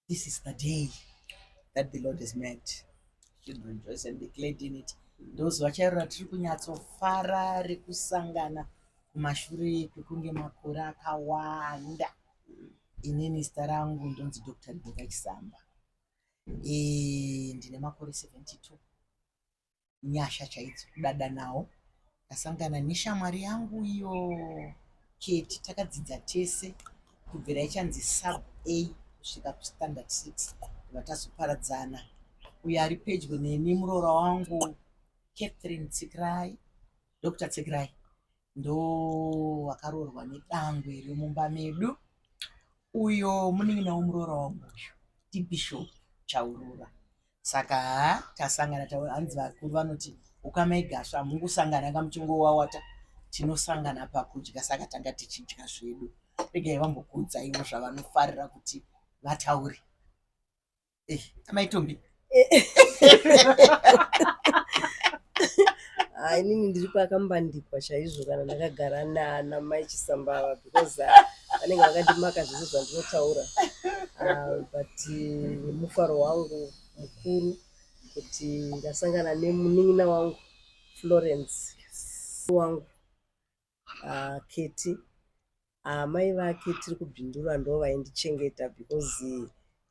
this is the day that the lord has made should rejoice and be glad in it ndozuva chairo ratiri kunyatsofara rekusangana kumashure kwekunge makore akawanda inini zita rangu ndonzi dr riboka chisamba e, ndine makore 72 nyasha chaidzo kudada nawo ndasangana neshamwari yangu iyo keti takadzidza tese kubvira ichanzi sub a kusvika kustandard six vatazoparadzana uyo ari pedyo neni muroora wangu catherine tsikirai dr tsikirai ndo wakaroorwa nedangwe remumba medu uyo munin'ina womuroora wangu uyu ndibishop chaurura saka tasangana hanzi vakuru vanoti ukama igasva hamungusangana kamuchingowawata tinosangana pakudya saka tanga tichidya zvedu regai vambokuudzaiwo zvavanofarira kuti vataure eh, amaitombi ah, inini ndiri pakambandikwa chaizvo kana ndakagara nana mai chisambava because ah, vanenge vakandimaka zvese zvandinotaura ah, but eh, mufaro wangu mukuru kuti ndasangana nemunin'ina wangu florence wangu uh, keti amai ah, vake tiri kubindura ndo vaindichengeta because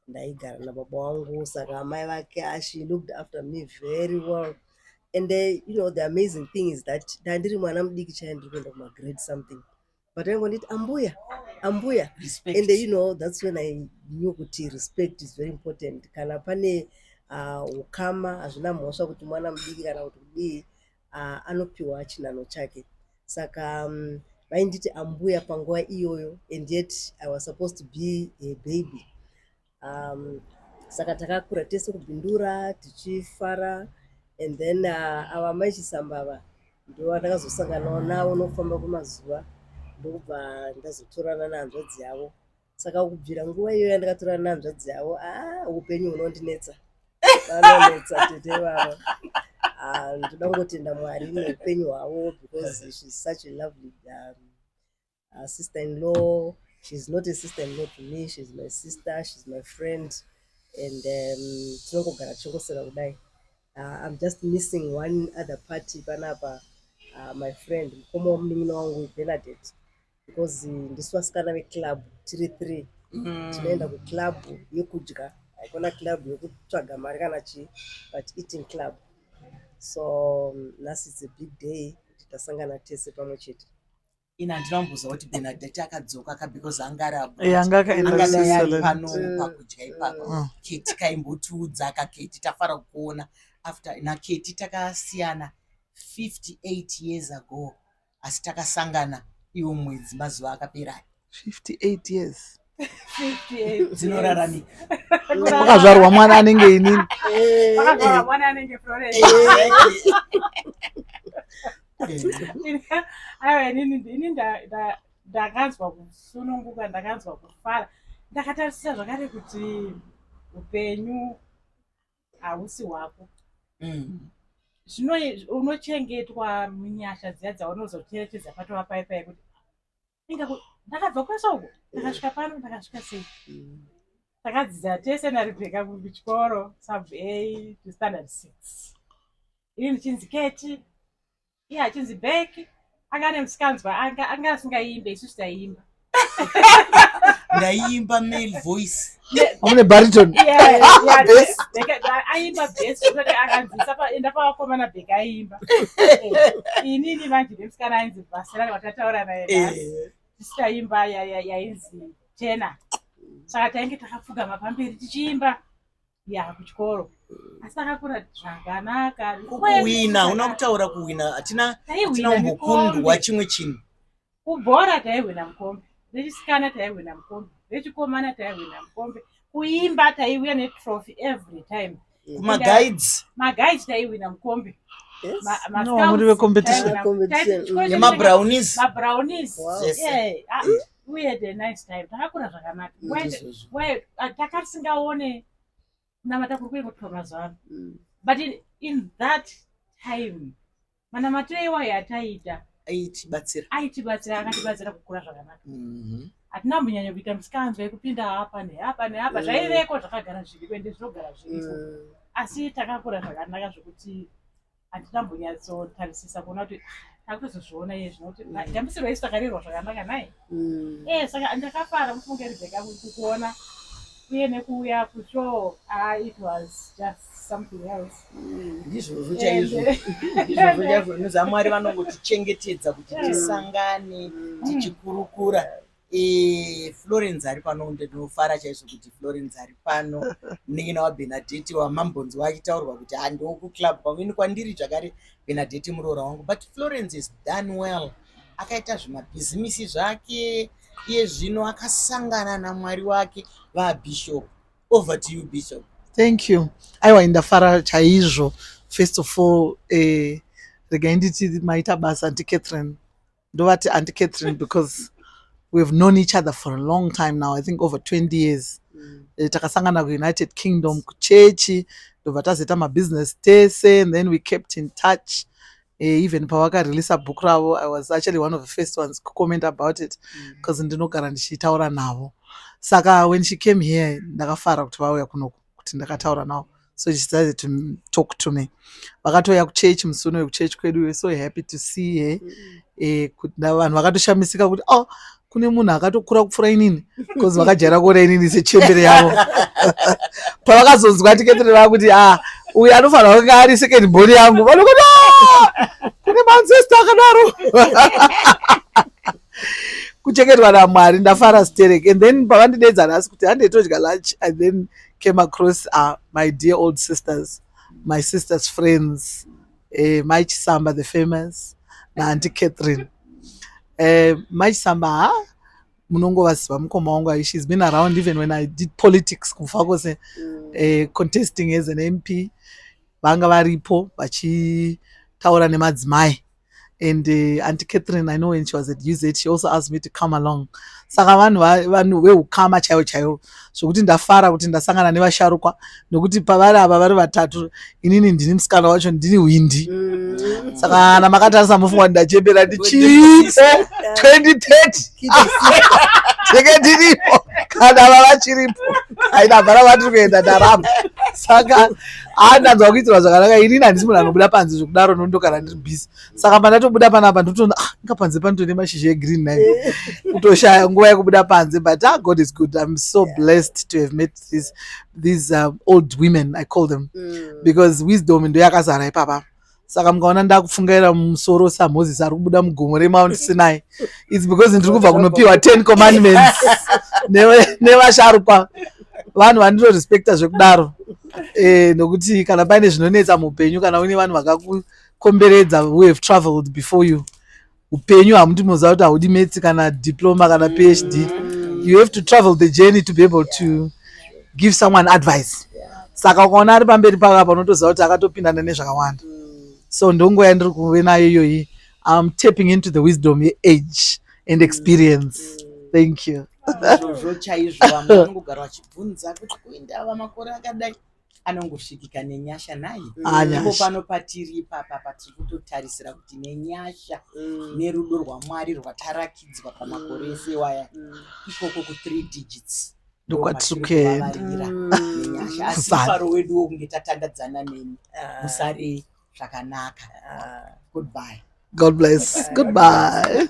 ndaigara nababa wangu saka amai vake ah, she looked after me very well and the, you know the amazing thing is that ndandiri mwana mudiki chaye ndiri kuenda kumagrade something but aingonditi ambuya ambuya respect. and you know that's when i knew kuti respect is very important kana pane ukama hazvina mhosva kuti mwana mudiki kana kuti kudii uh, anopiwa chinhanho chake saka um, vainditi ambuya panguva iyoyo and yet i was supposed to be a baby um, saka takakura tese kubindura tichifara and then uh, ava mai chisambava ndovanakazosanganawo navo nokufamba kwemazuva ndokubva ndazotorana nehanzvadzi yavo saka kubvira nguva iyoyo yandakatora nehanzvadzi yavo a ah, upenyu hunondinetsa vanonetsa tete vavo ah, ndoda kungotenda mwari neupenyu hwavo because she's such a lovely um, uh, sister in law she's not a sister in law to me she's my sister she's my friend and um, tinongogara tichingosera kudai uh, i'm just missing one other party panapa uh, my friend mukoma wamunin'ina wangu benadette because ndisu vasikana veclub tiri three mm. tinoenda kuclub yekudya haikona club yekutsvaga mari kana chii but eating club so mm, nhasi its a big day kuti tasangana tese pamwe chete ini handina kumboziva kuti benadeti akadzoka ka because anga araangadai ari pano mm. pakudya ipapo mm. keti kaimbotiudza ka keti tafara kukuona after naketi takasiyana 58 years ago asi takasangana iwo mwedzi mazuva akapera 58 years dzinorarami pakazvarwa mwana anenge inini aiwa inini ini ndakanzwa kusununguka ndakanzwa kufara ndakatarisira zvakare kuti upenyu hausi hwako mm. zvino unochengetwa munyasha dziya dzaunozocherechedza patova paye paye kuti inga ndakabva kwese uko ndakasvika pano ndakasvika sei mm. takadzidza tese narebheka kuchikoro sub a to standard six ini ndichinzi keti iye achinzi back anga ane musikanzwa anga anga asingaimbe isu taiimba ndaiimba male voice une bariton aimba bes kuti akanzisa enda pavakomana bhek aiimba inini vanji vemusikana ainzi vasirani vatataura naye tisikaimba yainzi jena saka tainge takapfugama pamberi tichiimba ya kuchikoro asi akakura zvakanaka kuwina una kutaura kuwina hatina hatina umbokundwa chimwe chinhu kubhora taihwina mukombe vechisikana taihwina mukombe vechikomana taihwina mukombe kuimba taiuya netrophy every time kumagaids magaids taihwina mukombe nemabrownise ah, mm. we had a nice time takakura zvakanaka ah, takatisingaone kunamata kuri kuingotiwa mazuva ano mm. but in, in that time manamatiro iwayo ataiita aitibatsira aitibatsira akatibatsira kukura zvakanaka mm-hmm. hatina mm -hmm. mbunyanya kuita misikanzwa yekupinda hapa nehapa nehapa mm. zvaiveko zvakagara zviriko ende zvinogara zviriko mm. asi takakura zvakanaka zvekuti handina mbonyatsotarisisa kuona kuti takutozozviona iye zvino kuti ndambisirwa mm. isu takarerwa zvakanaka naye mm. e saka ndakafara mufunge rebheka kukuona uye nekuuya kucho ah, it was just something else mm. ndizvozvo chaizvo ndizvozvo chaizvo nozamwari vanongotichengetedza kuti tisangane tichikurukura Florence ari pano kunde tinofara chaizvo kuti Florence ari pano munin'ina waBenadeti wamambonzi wachitaurwa kuti handiwo kuclub kwamini kwandiri zvakare Benadeti muroora wangu but Florence is done well akaita zvimabhizimisi zvake iye zvino akasangana namwari wake vabishop over to you bishop thank you aiwa indafara chaizvo first of all eh, regai nditi maita basa ndicatherine ndovati anti catherine because we have known each other for a long time now i think over 20 years mm. Eh, takasangana kuunited kingdom kuchechi ndobva tazoita mabusiness tese and then we kept in touch uh, even pavakareleasa book ravo i was actually one of the first ones kucomment about it because mm. ndinogara ndichitaura navo saka when she came here ndakafara kuti vauya kunoku kuti ndakataura navo so she decided to talk to me vakatouya kuchechi musi unoyo kuchechi kwedu we so happy to see her eh, vanhu vakatoshamisika kuti oh kune munhu akatokura kupfura inini bcause vakajaira kuona inini sechembere yavo pavakazonzwa tiketere vava kuti a ah, uyu anofanira kunge ari second boni yangu vanokuti ah, kune manzesta akadaro kuchengetwa namwari ndafara sterek and then pavandidedza nhasi kuti handei todya lunch i then came across uh, my dear old sisters my sisters friends eh, mai chisamba the famous naanti catherine eh, mai chisamba ha munongovaziva mukoma wangu ai she's been around even when i did politics kufa kwose mm. eh, contesting as an mp vanga varipo vachitaura nemadzimai and uh, auntie catherine i know when she was at uz she also asked me to come along saka vanhu vanhu veukama chaivo chaivo zvokuti ndafara kuti ndasangana nevasharukwa nokuti pavari ava vari vatatu inini ndini musikana wacho ndini hwindi mm. saka kana makatarisa mofungwa ndachembera ndichiipo 2030 tenge ndiripo kana vavachiripo aina vara vatiri kuenda ndaramba saka haa ndanzwa kuitirwa zvakanaka inini handisi munhu anobuda panze zvekudaro nondo kana ndiri busy saka pandatobuda panapa ndotoona ah inga panze panotone mashizha egreen nai kutoshaya nguva yekubuda panze but ah god is good im so blessed to have met this, these um, old women i call them mm. because wisdom ndoyakazara ipapa saka mukaona ndakufungaira mumusoro samoses ari kubuda mugomo remount sinai its because ndiri kubva kunopiwa ten commandments nevasharukwa vanhu vanditorespecta zvekudaro eh, nokuti kana paine zvinonetsa muupenyu kana uine vanhu vakakukomberedza who have traveled before you upenyu hamuti moziva kuti haudi mets kana diploma kana phd you have to travel the journey to be able to give someone advice saka ukaona ari pamberi pavo apa unotoziva kuti akatopindana nezvakawanda so ndongo yandiri kuve nayo iyoyi im tapping into the wisdom yeage and experience thank you izvozvo chaizvo vamwe vanongogara vachibvunza kuti kuinda ava makore akadai anongosvikika nenyasha naye ivo pano patiri ipapa patiri kutotarisira kuti nenyasha mm. nerudo rwamwari rwatarakidzwa pamakore mm. ese waya mm. ikoko ku three digits ndokwatikuenda nenyasha asi faro wedu wokunge tatandadzana neni ah. musare zvakanaka ah. goodbye god bless goodbye